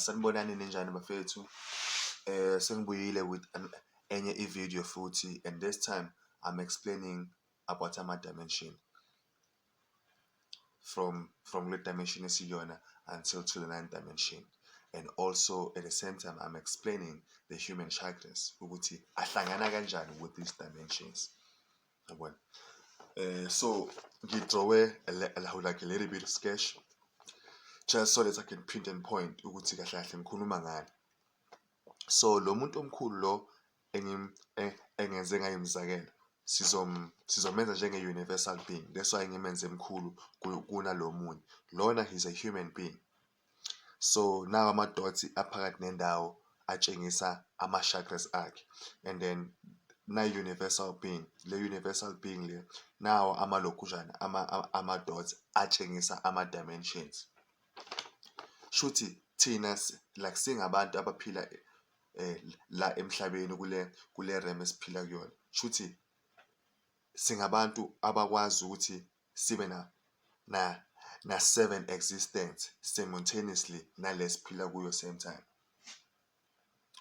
Sanibonani ninjani bafethu? Sengibuyile with enye i-video futhi and this time I'm explaining about ama-dimension from from kule dimension esiyiyona until to the ninth dimension and also at the same time I'm explaining the human chakras ukuthi ahlangana kanjani with these dimensions. yabona eh so ngidrowe lahu like a little bit of sketch just so that I can print and point ukuthi kahle kahle ngikhuluma ngani so lo muntu omkhulu lo eh, engenze ngayo imizakelo sizom sizomenza njenge universal being that's why ngimenze mkhulu kunalomunye lona he's a human being So nawa ama-dots aphakathi nendawo atshengisa ama-chakras akhe and then na-universal being le universal being le nawo amalokhunjana ama-dots atshengisa ama-dimensions. Shuthi thina like singabantu abaphila eh, la emhlabeni kule kule realm esiphila kuyona shuthi singabantu abakwazi ukuthi sibe na na na seven existence simultaneously nalesiphila kuyo same time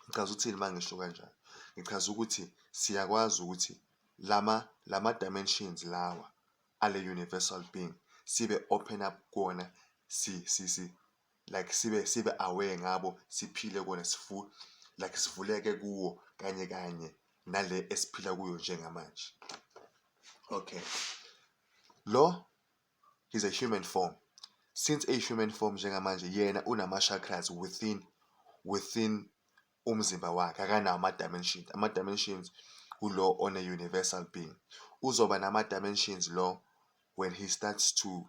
ngichaza uthini mangisho kanjalo ngichaza ukuthi siyakwazi ukuthi lama lama dimensions lawa ale universal being sibe open up kuwona si si si like sibe sibe aware ngabo siphile kona sifu like sivuleke kuwo kanye kanye nale esiphila kuyo njengamanje okay lo is a human form since a human form njengamanje yena unama chakras within within umzimba wakhe akanawo ama dimensions ama dimensions kulo on a universal being uzoba nama dimensions lo when he starts to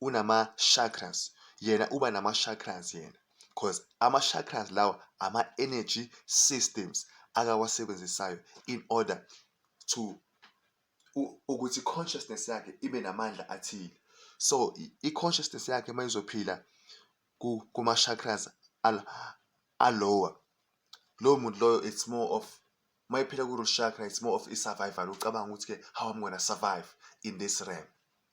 unama-chakras yena uba nama-chakras yena cos ama-chakras lawa ama-energy systems akawasebenzisayo in order to ukuthi i-consciousness yakhe ibe namandla athile. So i-consciousness yakhe uma izophila kuma-chakras alower lowo muntu loyo it's more of uma iphila ku-root chakra it's more of i-survival ucabanga ukuthi-ke how I'm gonna survive in this realm.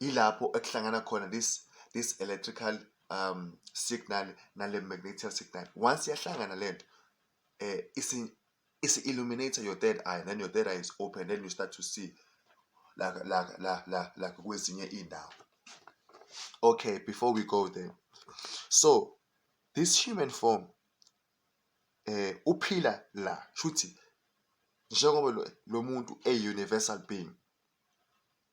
ilapho ekuhlangana khona this this electrical um signal nale magnetic signal once yahlangana lento eh isi isi illuminate your third eye then your third eye is open then you start to see la la la la la kwezinye indawo okay before we go there so this human form eh uphila la shuthi njengoba lo muntu e universal being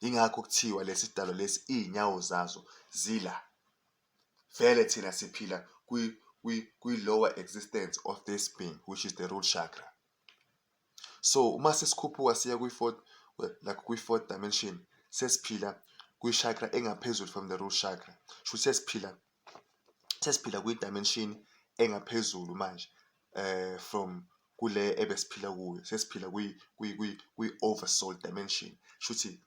Yingakho kuthiwa lesi dalo lesi iy'nyawo zazo zila. Vele thina siphila kwi-lower existence of this being which is the root chakra. So uma sesikhuphuka siya kwi-fourth like kwi-fourth dimension sesiphila kwi-chakra engaphezulu from the root chakra. Shuthi sesiphila sesiphila kwi-dimension engaphezulu manje eh from kule ebesiphila kuyo sesiphila kwi kwi kwi, kwi oversoul dimension shuthi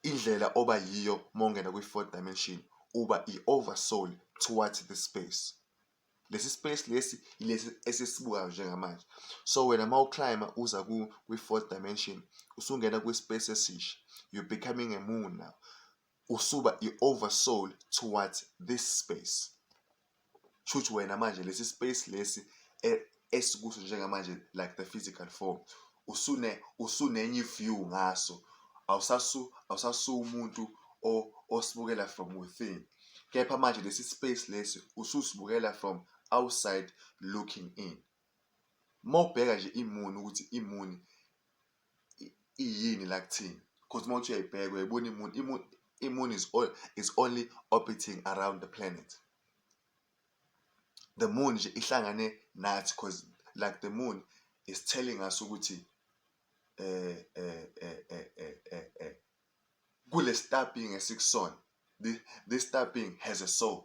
indlela oba yiyo mongena kwi fourth dimension uba i oversoul towards the space lesi space lesi ilesi esisibukayo njengamanje so wena uma uclimber uza kwi-fourth dimension usungena kwi-space esisha you're becoming a moon now usuba i-oversoul towards this space shuthi wena manje lesi space lesi e, esikuso njengamanje like the physical form usune usunenye view ngaso awusasu awusasu umuntu osibukela from within kepha manje lesi space lesi ususibukela from outside looking in mawubheka nje imuni ukuthi imuni iyini la kuthina cause uma uthi uyayibheka uyayibona imun imun imun is all is only orbiting around the planet the moon nje ihlangane nathi cause like the moon is telling us ukuthi eh eh eh eh eh eh, eh kule stabbing esikusona this stabbing has a soul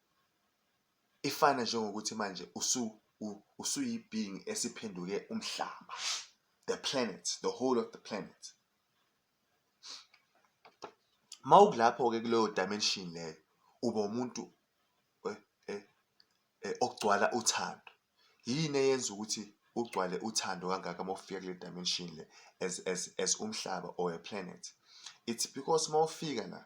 ifana njengokuthi manje usu usuyi-being esiphenduke umhlaba the planet the whole of the planet mawukulapho-ke kuleyo dimension leyo uba umuntu eh, eh, eh, okugcwala uthando yini eyenza ukuthi ugcwale uthando kangaka uma ufika kule dimension le as, as, as umhlaba or a planet it's because uma ufika la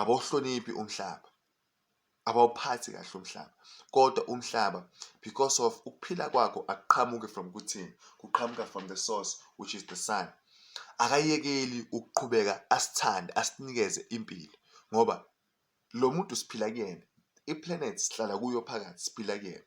abawuhloniphi umhlaba abawuphathi kahle umhlaba kodwa umhlaba because of ukuphila kwakho akuqhamuke from kuthini kuqhamuka from the source which is the sun akayekeli ukuqhubeka asithande asinikeze impilo ngoba lo muntu siphila kuyena iplanet sihlala kuyo phakathi siphila kuyena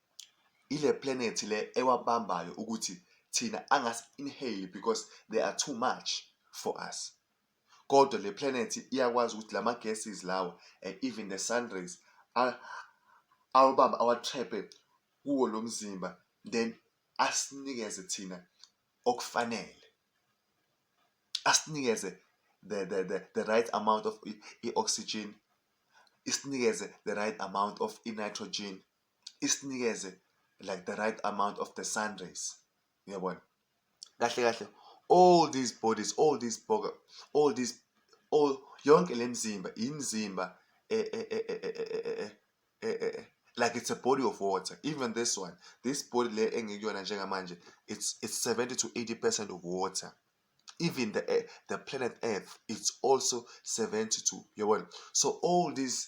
ile planet le ewabambayo ukuthi thina angasi inhale because they are too much for us. Kodwa le planet iyakwazi ukuthi lama gases lawa and even the sun rays awabamba awatraphe kuwo lo mzimba then asinikeze thina okufanele. Asinikeze the the the, the right amount of i-oxygen isinikeze the right amount of i-nitrogen isinikeze like the right amount of the sun rays uyabona kahle kahle all these bodies all these boga all these all yonke le mzimba imzimba like it's a body of water even this one this body le engikuyona njengamanje it's it's 70 to 80 percent of water even the eh, the planet earth it's also 70 to yabona so all these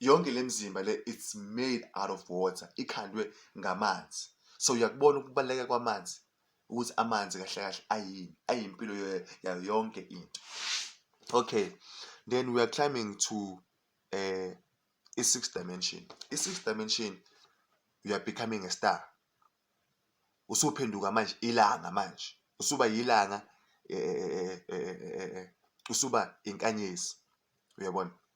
yonke le mzimba le it's made out of water ikhandwe ngamanzi so uyakubona ukubaluleka kwamanzi ukuthi amanzi kahle kahle ayini ayimpilo yayo yonke into okay then we are climbing to uh, i-six dimension i-six dimension you are becoming a star usuphenduka manje ilanga manje usuba yilanga eh, eh, eh, usuba inkanyezi uyabona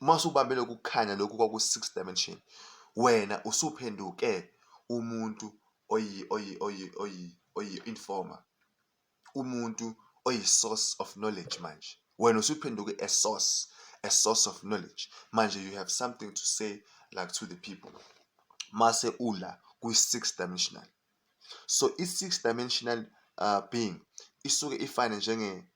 uma usubambe lokhu kukhanya lokhu kwaku-six dimension wena usuphenduke umuntu oyi-informer umuntu oyi-source of knowledge manje wena usuphenduke a source a source of knowledge manje you have something to say like to the people mase ula kwi-six dimensional so i-six dimensional uh, being isuke ifane njenge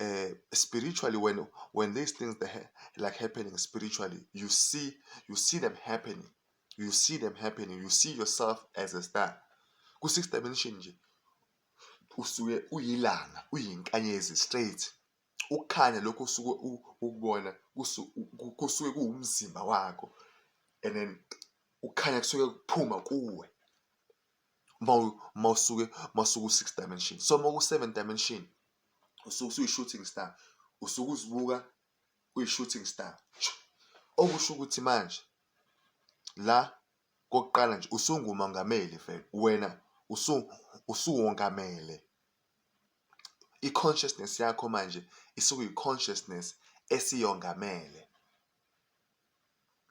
uh, spiritually when when these things that ha- like happening spiritually you see you see them happening you see them happening you see yourself as a star ku six dimension nje usuke uyilanga uyinkanyezi straight ukukhanya lokho usuke u- ukubona kusu- ku- kusuke kuwumzimba wakho and then ukukhanya kusuke kuphuma kuwe uma usuke uma usuke u-six dimension so uma uku-seven dimension usuke usuyi-shooting star usuke uzibuka uyi-shooting star okusho ukuthi manje la kokuqala nje usungumongameli vele wena usuwongamele i-consciousness yakho manje isuke yi-consciousness esiyongamele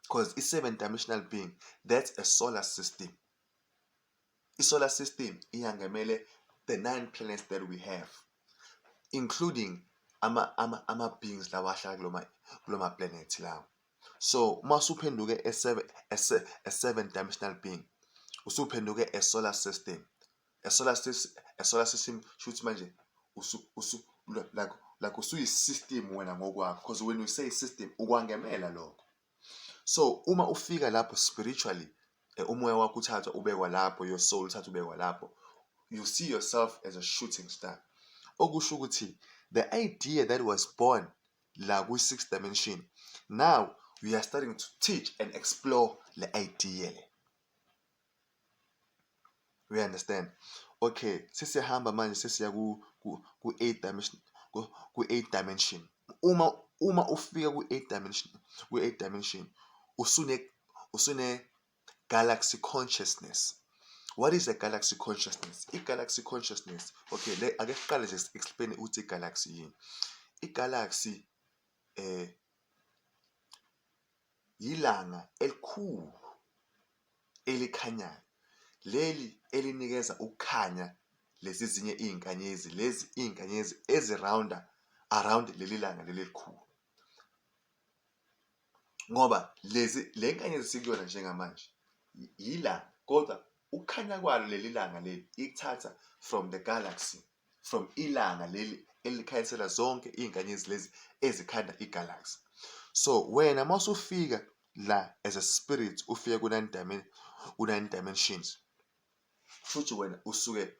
because i-seven dimensional being that's a solar system I-solar system iyangemele the nine planets that we have including ama-beings lawa ahlala kuloma kuloma planet lawo so uma usuphenduke a seven dimensional being usuphenduke a solar system a solar system a solar system shuthi manje usu usu like like usuyi-system wena ngokwakho because when you say system ukwangemela lokho So uma ufika lapho spiritually eh, umoya wakho uthathwa ubekwa lapho, your soul uthathwa ubekwa lapho, you see yourself as a shooting star. Okusho ukuthi the idea that was born la kwi-six dimension now we are starting to teach and explore le idea le. We understand? Okay, sesiyahamba manje sesiya ku ku ku eight dimension ku ku eight dimension. Uma uma ufika ku eight dimension ku eight dimension usune usune galaxy consciousness. What is a galaxy consciousness? I-galaxy consciousness. Okay, le ake siqale nje explain ukuthi i-galaxy yini. I-galaxy eh yilanga elikhulu elikhanyayo leli elinikeza ukukhanya lezi zinye iy'nkanyezi lezi iy'nkanyezi ezirawunda around leli langa leli elikhulu ngoba lezi le nkanyezi sikuyona njengamanje yilanga kodwa ukukhanya kwalo leli langa leli ikuthatha from the galaxy from ilanga leli elikhanyisela zonke iy'nkanyezi lezi ezikhanda igalaxy so wena uma usufika la as a spirit ufike ku-nine dimen ku-nine dimensions futhi wena usuke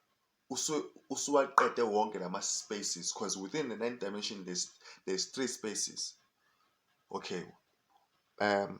usuwaqede wonke lama spaces because within the nine dimension there's, there's three spaces okay um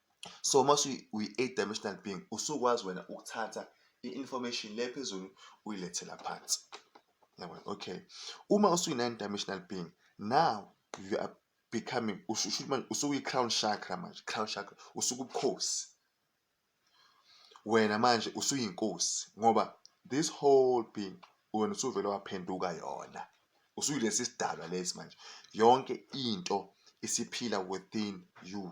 So uma uyi-eight dimensional being usukwazi wena ukuthatha i-information le phezulu uyilethela phansi. Yabona? Okay. Uma usuyi-nine dimensional being now you are becoming ushuthi manje usukuyi-crown chakra manje crown chakra usukubukhosi wena manje usuyinkosi ngoba this whole being wena usuvele waphenduka yona usuyilesi sidalwa lesi manje yonke into isiphila within you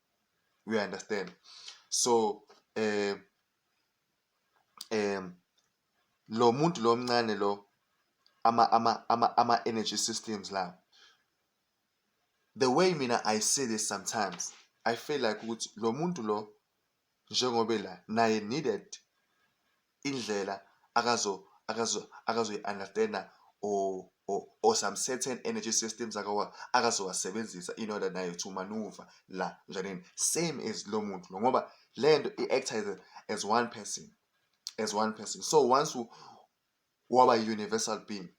we understand so eh em lo muntu lo mncane lo ama ama ama ama energy systems la the way mina i see this sometimes i feel like ukuthi lo muntu lo njengobe la naye needed indlela akazo akazo akazoyi-understand-a or or or some certain energy systems akawa akazowasebenzisa in order naye to maneuver la njaneni same as lo muntu lo ngoba le nto i-acta as, as one person as one person so once waba universal being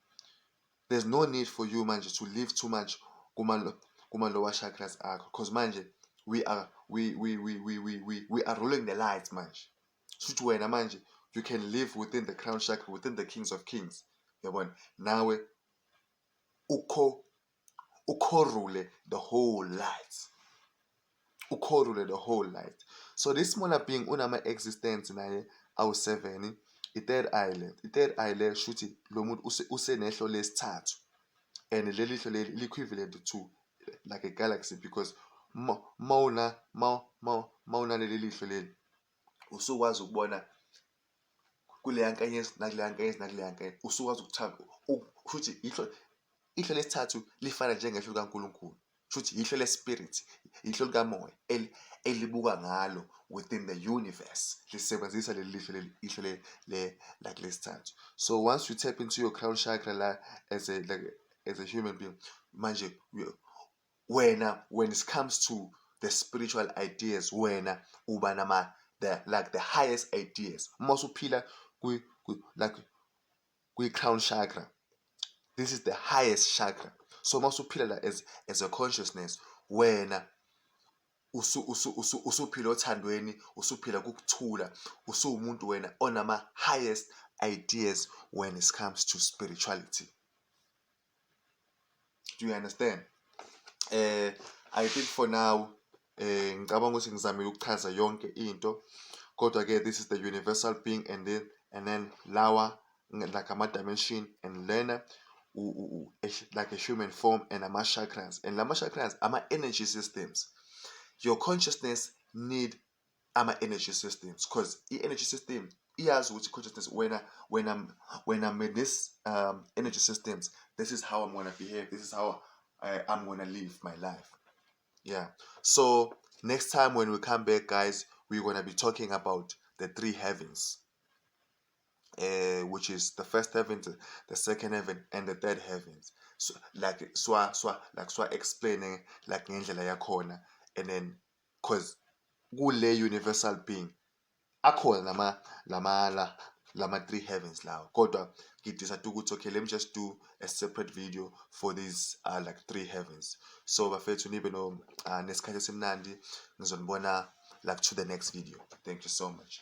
there's no need for you manje to live too much kuma kuma lower chakras akho because manje we are we we we we we we, we are ruling the lights manje shuthi wena manje you can live within the crown shack within the kings of kings yabona nawe ukho ukhorule the whole light ukhorule the whole light so this smaller being unama existence naye awu-7 i-third eye le i-third eye le shuthi lo muntu usenehlo lesithathu and leli hlo leli li-equivalent to like a galaxy because mawuna mawuna leli lihlo leli usukwazi ukubona kuleya nkanyezi nakuleya nkanyezi nakuleya nkanyezi usukwazi ukuthanda kushuthi yihlo ihlo lesithathu lifana njengehlo likaNkulunkulu shuthi yihlo lespirit yihlo likamoya elibuka ngalo within the universe lisebenzisa leli lihlo leli ihlo le le like lesithathu so once you tap into your crown chakra la as a like as a human being manje wena when it comes to the spiritual ideas wena uba nama the like the highest ideas uma usuphila kwi, kwi like kwi crown chakra this is the highest chakra so uma usuphila la as, as a consciousness wena usuphila othandweni usuphila kukuthula usuwumuntu wena onama highest ideas when it comes to spirituality do you understand eh i think for now eh ngicabanga ukuthi ngizamile ukuchaza yonke into kodwa ke this is the universal being and then and then lawa like ama dimension and lena like a human form and ama chakras and lama chakras ama energy systems your consciousness need ama-energy systems because i-energy system iyazi ukuthi consciousness wena wena wena with this um, energy systems this is how i'm gonna behave this is how I, uh, i'm gonna live my life yeah so next time when we come back guys we're gonna be talking about the three heavens uh, which is the first heaven, the second heaven, and the third heavens. So, like swa swa like swa explaining like ngendlela yakhona, and then Cause kule universal being akhona lama lama la lama three heavens lawo kodwa ngi decide ukuthi okay let me just do a separate video for these uh, like three heavens so bafethu nibe no uh, nesikhathi esimnandi ngizonibona like to the next video thank you so much